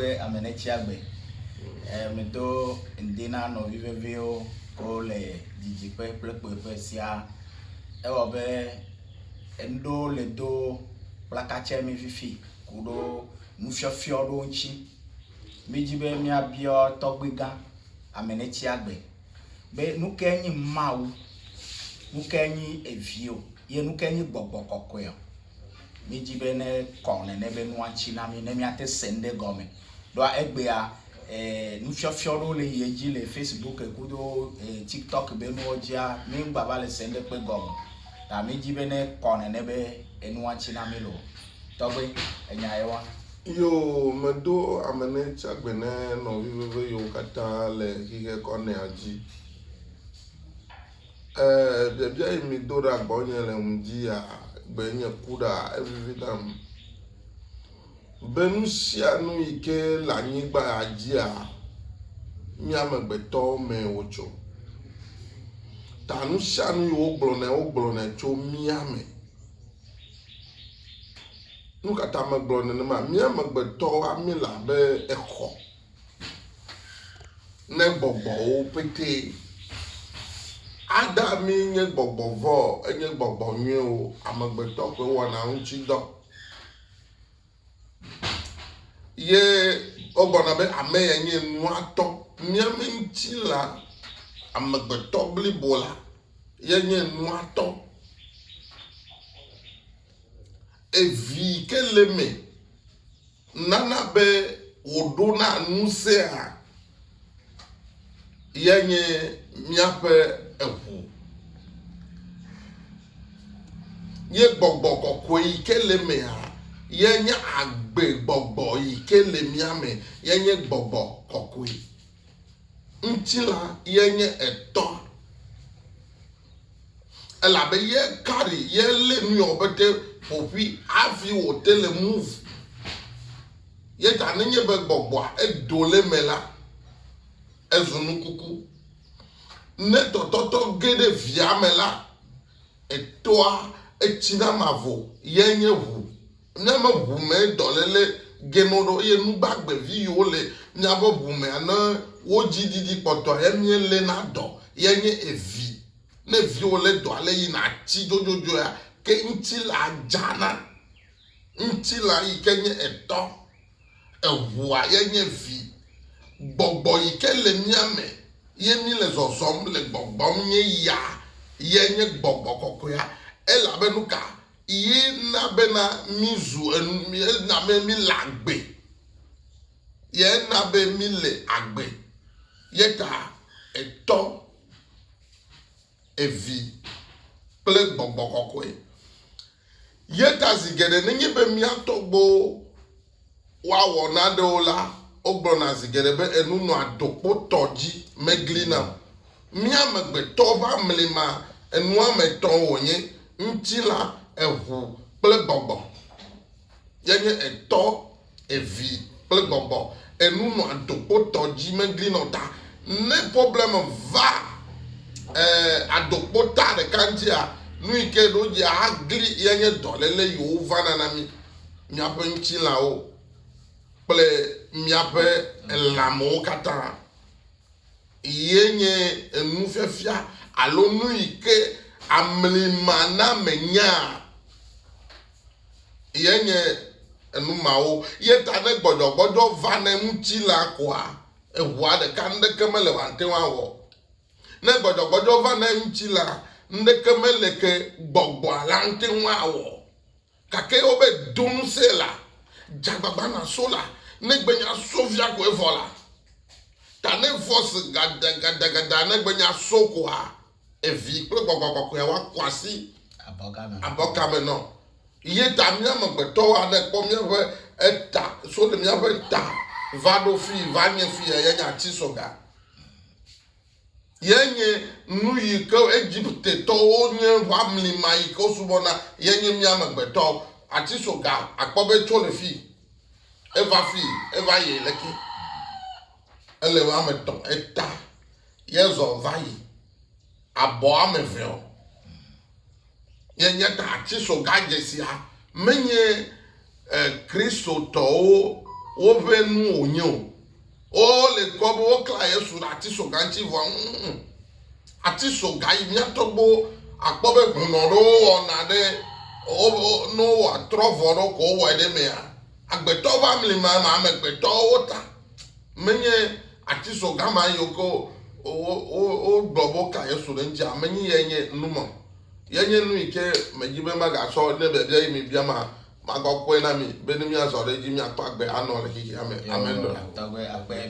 ƒe ame ɖe tsi agbe. Medo ŋdi na nɔvi veviwo wole didiƒe kple kpuiƒe siaa. Ewɔ be ŋɖewo le do kplakatsɛ mi fifi ku ɖo nufiɔfiɔ ɖewo ŋtsi. Mídi be míabiɔ tɔgbui gã ame ɖe tsi agbe be nuke nyi Mawu, nuke nyi evio ye nuke nyi gbɔgbɔ kɔkɔea. Míedi be ne kɔ nene be nua tsi na mí ne míate se nu ɖe gɔme. Ɖoa egbea e nufiɔfiɔ ɖewo le yi edzi le Facebook kudo e TikTok be nuwo dzia mí ŋgba va le se nu ɖe kpe gɔme o. Ta míedi be ne kɔ nene be enua tsi na mí loo. Tɔgbe enya ye wa. Yo, medo ame ne tsa gbe ne nɔvi veve yewo katã le xixe kɔ nea dzi. Ee, biabia yi mido ɖa gbɔnye le ŋudzia gbe nye ku ɖa, evivi nam be nu sia nu yi ke le anyigba ya dzia, nye amegbetɔwo mee wotso. Ta nu sia nu yi wogblɔnɛ, wogblɔnɛ tso mía me. Nu ka ta megblɔ nenema? Mía amegbetɔwoa míele abe exɔ. ne gbɔgbɔwo pete. Ada mi nye gbɔgbɔ vɔ enye gbɔgbɔ nyuiwo amegbetɔ ƒe wɔna ŋuti dɔ. Ye wogblɔna be ame ya nye nua tɔ. Mía me ŋuti la amegbetɔ blibo la ye nye nua tɔ. Evi ke le me. Nana be wòɖona ŋusẽa ya nye míaƒe eŋu ye gbɔgbɔ kɔkɔe yi ke le emea ye nye agbe gbɔgbɔ yi ke le mía me ye nye gbɔgbɔ kɔkɔe. Ŋutilã ye nye etɔ̃. elabe ye carry ye lé nu yɔ be te ƒoƒui hafi wòte le move. Ye ta nenye be gbɔgbɔa edo le me la, ezu nu kuku. Ne tɔtɔtɔ ge ɖe via me la, etoa etsi na mavɔ, ye nye ʋu. Ne me ʋu me dɔlele geno ɖo ye nu gbagbe vi yiwo le mia ƒe ʋu mea ne wo dzi didi kpɔtɔa ye mie le na dɔ ye nye evi. Ne viwo le dɔa le yi na tsi dzodzodzoea ke ŋtsi la dzana. Ŋtsi la yi ke nye etɔ, eʋua ye nye vi. Gbɔgbɔ yi ke le mia me ye mi le zɔzɔm le gbɔgbɔm nye ya ye nye gbɔgbɔ kɔkɔea. Elabe nuka Ye na bena mízu enu, ye na be míle agbe, ye na be míle agbe. Ye ta Etɔ, Evi kple Gbɔgbɔ Kɔkɔe. Ye ta zi geɖe nenye be mía tɔgbuiwo. woawɔ nanewo la, wogblɔna zi geɖe be, Enu nɔa dokpotɔ dzi megli nam. Mía amegbetɔ ƒe amlima enuametɔ̃ wònye, ŋutilã, eŋu kple gbɔgbɔ. Yeenye etɔ, evi kple gbɔgbɔ. Enu nɔa dokpotɔ dzi megli nam. Ta ne problem va eh, adokpota ɖeka ŋutia, nu yi ke ɖo dzi agli yeenye dɔléle yi wòvana na mí. miaƒe ŋutilãwo kple miaƒe lãmewo katã ye nye enufiafia alo nu yi ke amlimanamenyaa ye nye enu mawo ye ta ne gbɔdzɔgbɔdzɔ va ne ŋutilã koa eʋua ɖeka nuɖeke mele wòate ŋu awɔ ne gbɔdzɔgbɔdzɔ va ne ŋutilã nuɖeke mele ke gbɔgbɔa la ŋute ŋu awɔ Gake eo be do nusee la, dzagbagba na so la, negbe nya so via koe vɔ la, ta ne vɔs gada gada gada negbe nya so koa, evi kple gbɔgbɔ kɔkɔea wa kɔ asi abɔka me nɔ. Ye ta mía amegbetɔwoa ne kpɔ míaƒe eta so ɖe míaƒe ta va ɖo fii va nye fii eye nya tsi so ga. Ye nye nu yi ke Egiptetɔwo nye ʋamli ma yi ke wosubɔna, ye nye mía amegbetɔwo. Ati soga akpɔ be tso le fii eva fii eva yi leke. Ele ame etɔ̃ eta ye zɔ va yi abɔ ame eve o. Yenye tatisɔga dzesia menye eh, Kristotɔwo woƒe nu wònye o. Wole kpɔ be woklã Yesu ɖe atisɔga ŋuti vɔ. Mm, atisɔga yi mía tɔgbuiwo akpɔ be hunɔ ɖewo wɔna ɖe woƒe ne wowɔ atrɔ vɔ ɖewo ko wowɔe ɖe mea. Agbetɔwo ƒe amlima ma amegbetɔwo ta menye Atsiso gã ma yiwo ke wogblɔ be woka Yesu ɖe eŋuti ame nyi ye nye nu ma. Ye nye nu yi ke medi be magatsɔ ne biabia yi mibia ma magakɔe na mi be ne miazɔ ɖe edzi miakpɔ agbe anɔ le xexea me. Amen.